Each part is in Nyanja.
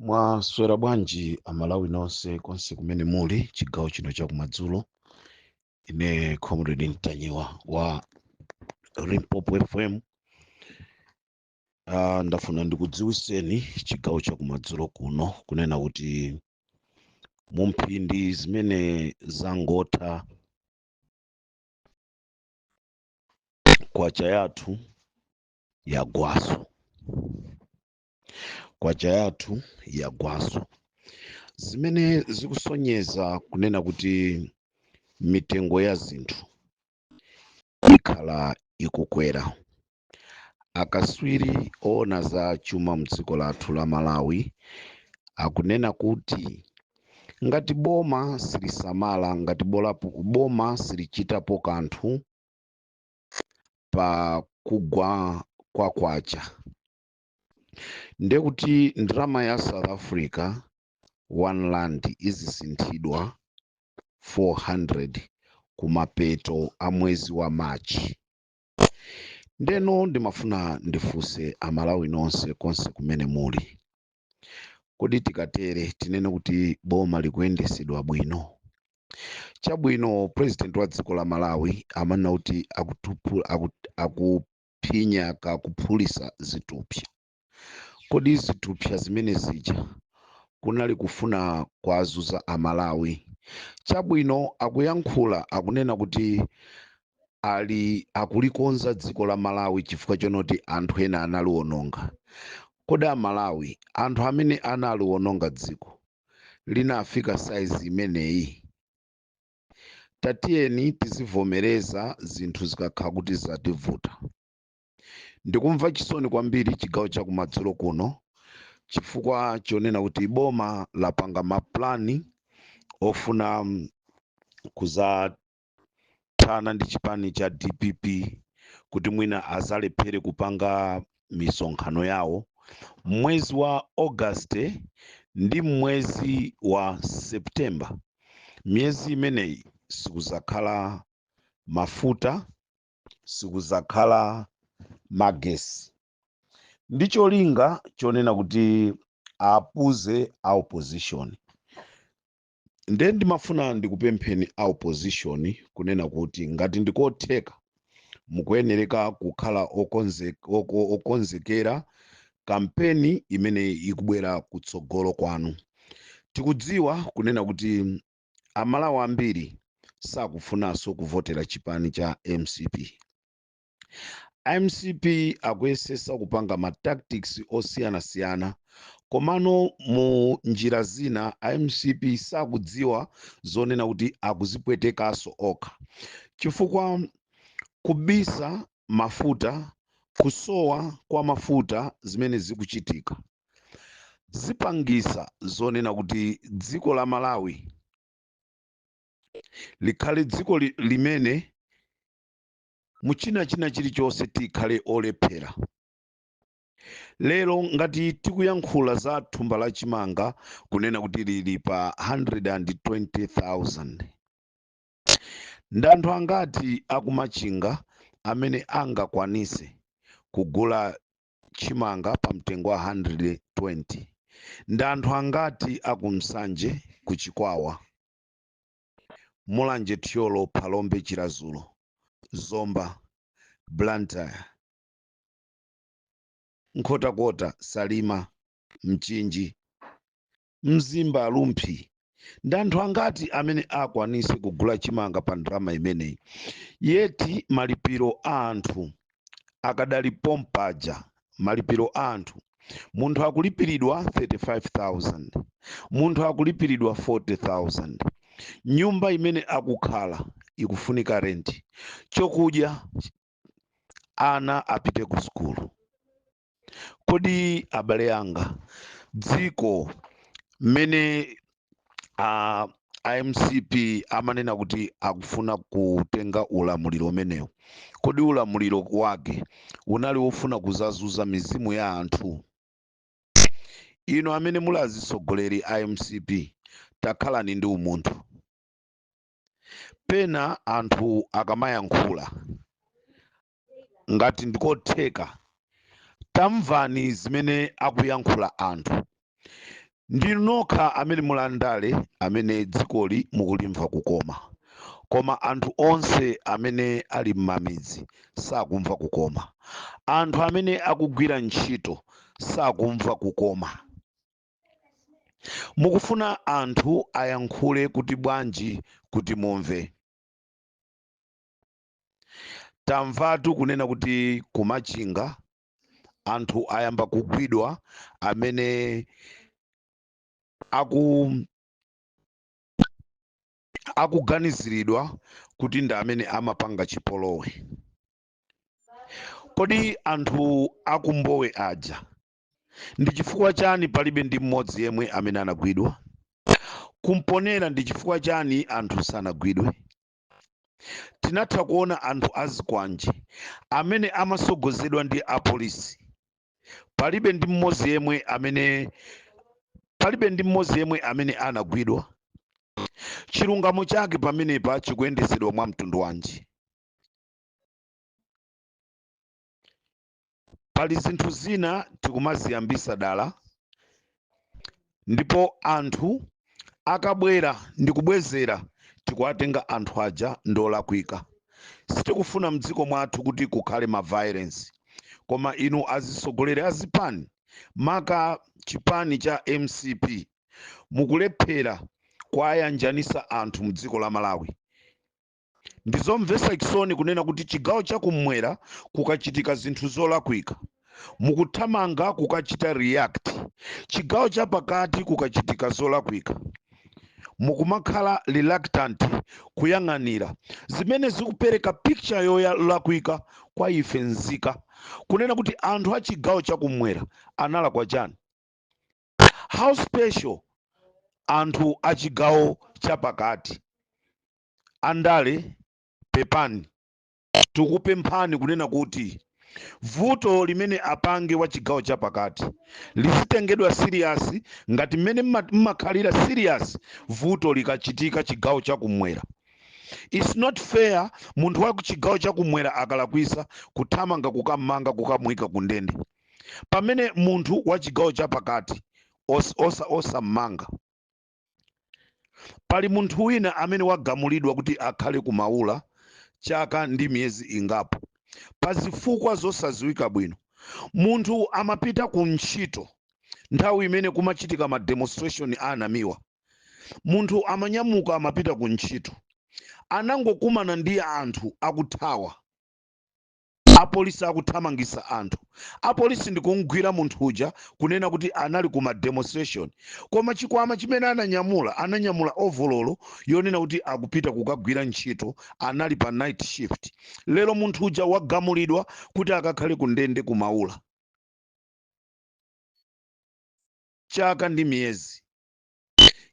mwaswera bwanji amalawi nonse konse kumene muli chigawo chino chakumadzulo ine comrade mtanyiwa wa limpopo fm uh, ndafuna ndikudziwiseni chigawo chakumadzulo kuno kunena kuti mu mphindi zimene zangotha kwacha yathu yagwaso kwacha yathu yagwaso zimene zikusonyeza kunena kuti mitengo ya zinthu ikhala ikukwera akaswiri oona za chuma mdziko lathu la malawi akunena kuti ngati boma silisamala ngati bolapo boma silichitapo kanthu pa kugwa kwa kwacha ndiye kuti ndalama ya south africa one rand izisinthidwa 400 kumapeto a mwezi wa march ndeno ndimafuna ndifunse amalawi nonse konse kumene muli kodi tikatere tinene kuti boma likuyendesedwa bwino chabwino president wa dziko la malawi amanena kuti akutupu- aku- akuphinya kakuphulisa zitupsa kodi zitupsa zimene zija kunali kufuna kuwazuza amalawi chabwino akuyankhula akunena kuti ali akulikonza dziko la malawi chifukwa chonoti anthu ena analiononga kodi amalawi anthu amene analiononga dziko linafika saizi imeneyi tatiyeni tizivomereza zinthu zikakhala kuti zativuta ndikumva chisoni kwambiri chigawo chakumadzulo kuno chifukwa chonena kuti boma lapanga mapulani ofuna mm, kuza kuthana ndi chipani cha dpp kuti mwina azalephere kupanga misonkhano yawo mmwezi wa august ndi mmwezi wa september miyezi imeneyi sikuzakhala mafuta sikuzakhala magesi ndi cholinga chonena kuti apuze a opposition nde ndimafuna ndikupempheni a opposition kunena kuti ngati ndikotheka mukuyenereka kukhala okonze- oko- okonzekera kampeni imene ikubwera kutsogolo kwanu tikudziwa kunena kuti amalawi ambiri sakufunanso kuvotera chipani cha mcp mcp akuyesesa kupanga ma tactics osiyanasiyana komano mu njira zina a mcp sakudziwa zonena kuti akuzipwetekaso okha chifukwa kubisa mafuta kusowa kwa mafuta zimene zikuchitika zipangisa zonena kuti dziko la malawi likhale dziko li, limene mu china china chilichonse tikhale olephera lero ngati tikuyankhula za thumba la chimanga kunena kuti lili pa 120,000 ndi anthu angati aku Machinga amene angakwanise kugula chimanga pa mtengo wa 120 ndi anthu angati aku Nsanje ku Chikwawa Mulanje, Thyolo, Phalombe, Chiradzulu, Zomba, Blantyre, Nkhotakota, Salima, Mchinji, Mzimba, Rumphi ndi anthu angati amene akwanise kugula chimanga pa ndalama imeneyi yeti malipiro a anthu akadali pompaja malipiro a anthu munthu akulipiridwa 35000 munthu akulipiridwa 40000 nyumba imene akukhala ikufunika renti chokudya ana apite ku sukulu kodi abale anga dziko mmene a a mcp amanena kuti akufuna kutenga ulamuliro umenewu kodi ulamuliro wake unali wofuna kuzazunza mizimu ya anthu inu amene muli azitsogoleri a mcp takhalani ndi umunthu pena anthu akamayankhula ngati ndikotheka tamvani zimene akuyankhula anthu ndinu nokha amene muli andale amene dzikoli mukulimva kukoma koma anthu onse amene ali m'mamidzi sakumva kukoma anthu amene akugwira ntchito sakumva kukoma mukufuna anthu ayankhule kuti bwanji kuti mumve tamvatu kunena kuti ku Machinga anthu ayamba kugwidwa amene aku akuganiziridwa kuti ndi amene amapanga chipolowe kodi anthu aku Mbowe aja ndi chifukwa chani palibe ndi mmodzi yemwe amene anagwidwa ku Mponela ndi chifukwa chani anthu sanagwidwe tinatha kuona anthu azikwanje amene amasogozedwa ndi apolisi palibe ndi mmodzi yemwe amene anagwidwa chilungamo chake pamenepa chikuyendetsedwa mwa mtundu wanji pali zinthu zina tikumaziyambisa dala ndipo anthu akabwera ndi kubwezera tikuwatenga anthu aja ndi olakwika sitikufuna mdziko mwathu kuti kukhale ma violence koma inu azitsogoleri a zipani maka chipani cha mcp mukulephera kuwayanjanitsa anthu mdziko la malawi ndi zomvetsa chisoni kunena kuti chigawo chakumwera kukachitika zinthu zolakwika mukuthamanga kukachita react chigawo chapakati kukachitika zolakwika mukumakhala reluctant kuyang'anira zimene zikupereka picture yolakwika kwa ife nzika kunena kuti anthu a chigawo chakumwera analakwa chani how special anthu a chigawo chapakati andale pepani tikupemphani kunena kuti vuto limene apange wa chigawo chapakati lizitengedwa siriyasi ngati mmene mma- mmakhalira siriyasi vuto likachitika chigawo chakumwera its not fair munthu wa chigawo chakumwera akalakwisa kuthamanga kukammanga kukamuyika ku ndende pamene munthu wa chigawo chapakati os- osa- osammanga pali munthu wina amene wagamulidwa kuti akhale ku maula chaka ndi miyezi ingapo pa zifukwa zosadziwika bwino munthu amapita ku ntchito nthawi imene kumachitika ma demonstration a Namiwa munthu amanyamuka amapita ku ntchito anangokumana ndi anthu akuthawa apolisi akuthamangisa anthu apolisi ndikumgwira munthu uja kunena kuti anali ku mademonstration koma chikwama chimene ananyamula ananyamula ovololo yonena kuti akupita kukagwira ntchito anali pa night shift lero munthu uja wagamulidwa kuti akakhale ku ndende kumaula chaka ndi miyezi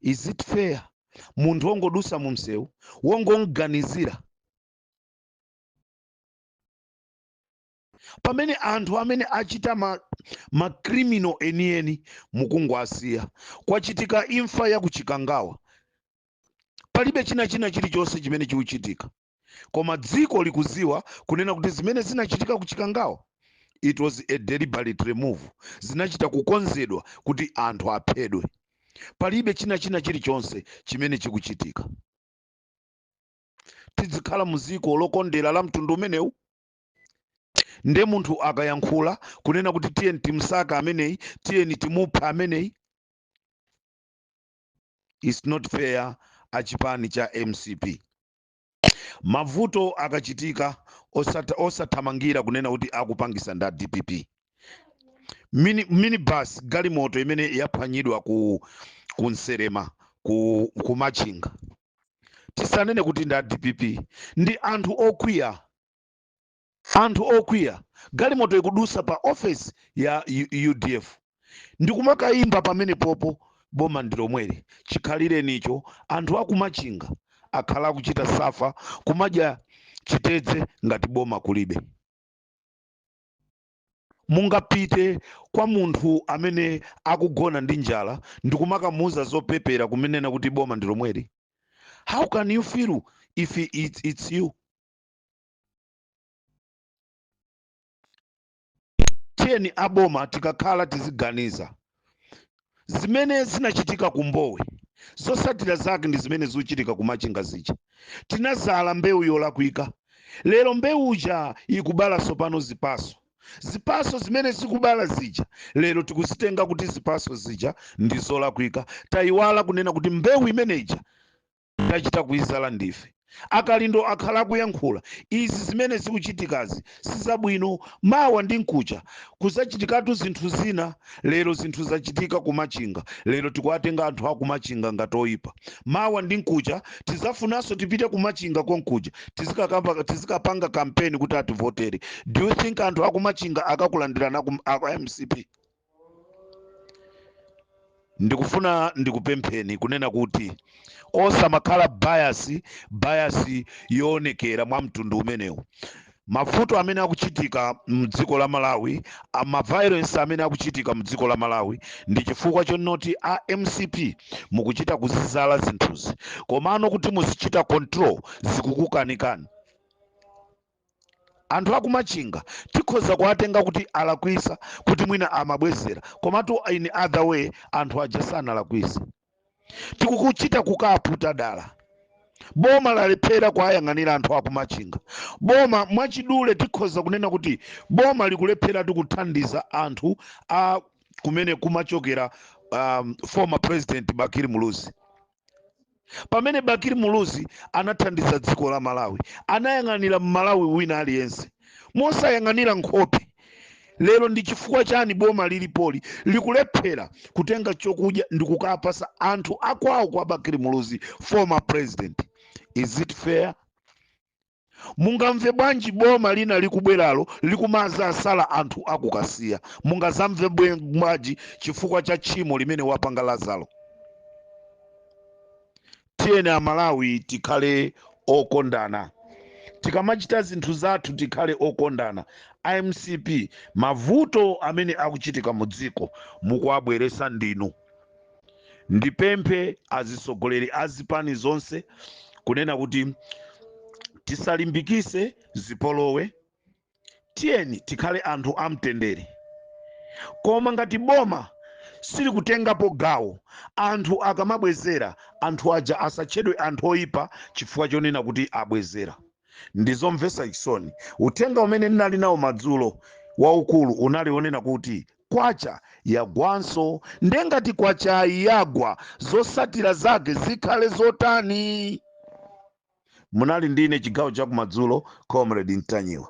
is it fair munthu wongodusa mu msewu wongomganizira pamene anthu amene achita ma, ma criminal enieni mukungowasiya kwachitika imfa ya kuchikangawa palibe china china chilichonse chimene chikuchitika koma dziko likuziwa kunena kuti zimene zinachitika kuchikangawa it was a deliberate move zinachita kukonzedwa kuti anthu aphedwe palibe china china chilichonse chimene chikuchitika tidzikhala mu dziko lokondera la mtundu umenewu nde munthu akayankhula kunena kuti tiyeni timusake ameneyi tiyeni timuphe ameneyi its not fair a chipani cha mcp mavuto akachitika osata- osathamangira kunena kuti akupangisa nda dpp mini, minibus galimoto imene yaphwanyidwa ku, ku nselema ku, ku machinga tisanene kuti ndi a dpp ndi anthu okwiya anthu okwiya galimoto ikudusa pa ofesi ya U- udf ndikumakayimba pamene popo boma ndilomweli chikhalirenicho anthu akumachinga akhala akuchita safa kumadya chitedze ngati boma kulibe mungapite kwa munthu amene akugona ndi njala ndikumakamuuza zopepera kumanena kuti boma ndi lomweli how can you feel if it's, it's you tiyeni aboma tikakhala tiziganiza zimene zinachitika ku mbowe zotsatira zake ndi zimene zikuchitika ku machinga zija tinazala mbewu yolakwika lero mbewuja ikubala tsopano zipaso zipaso zimene zikubala zija lero tikuzitenga kuti zipaso zija ndi zolakwika tayiwala kunena kuti mbewu imeneja tachita kuizala ndife akalindo akhala akuyankhula izi zimene zikuchitikazi sizabwino mawa ndi mkucha kuzachitikatu zinthu zina lero zinthu zachitika kumachinga lero tikuwatenga anthu akumachinga ngati oyipa mawa ndi mkucha tizafunanso tipite kumachinga konkuja tizikakamba tizikapanga kampeni kuti ativotere do you think anthu akumachinga akakulandirani aku, aku mcp ndikufuna ndikupempheni kunena kuti osamakhala bayasi bayasi yoonekera mwa mtundu umenewu mavuto amene akuchitika mdziko la malawi ma violence amene akuchitika mdziko la malawi ndi chifukwa chonoti a mcp mukuchita kuzizala zinthuzi komano kuti muzichita control zikukukanikani anthu akumachinga tikhoza kuwatenga kuti alakwisa kuti mwina amabwezera komatu in other way anthu aja sanalakwise tikuchita kuwaputa dala boma lalephera kuwayang'anira anthu akumachinga boma mwachidule tikhoza kunena kuti boma likulephera kuthandiza anthu a kumene kumachokera a former president bakili muluzi pamene bakili muluzi anathandiza dziko la malawi anayang'anira mmalawi wina aliyense mosayang'anira nkhope lero ndi chifukwa chani boma lilipoli likulephera kutenga chokudya ndi kukapasa anthu akwawo kwa bakili muluzi former president is it fair Mungamve bwanji boma lina likubweralo likumazasala anthu a ku Kasiya? Mungazamve bwe- bwanji chifukwa cha tchimo limene wapanga Lazaro? Tiyeni Amalawi tikhale okondana. Tikamachita zinthu zathu tikhale okondana. A mcp mavuto amene akuchitika mu dziko mukuwabweretsa ndinu. ndipemphe azitsogoleri a zipani zonse kunena kuti tisalimbikise zipolowe tiyeni tikhale anthu amtendere koma ngati boma silikutengapo gawo anthu akamabwezera anthu aja asatchedwe anthu oyipa chifukwa chonena kuti abwezera ndizomvesa chisoni uthenga umene ndinali nawo madzulo waukulu unali onena kuti Kwacha yagwanso nde ngati kwachayi yagwa zotsatira zake zikhale zotani? Munali ndine chigawo chakumadzulo Comrade Ntanyiwa.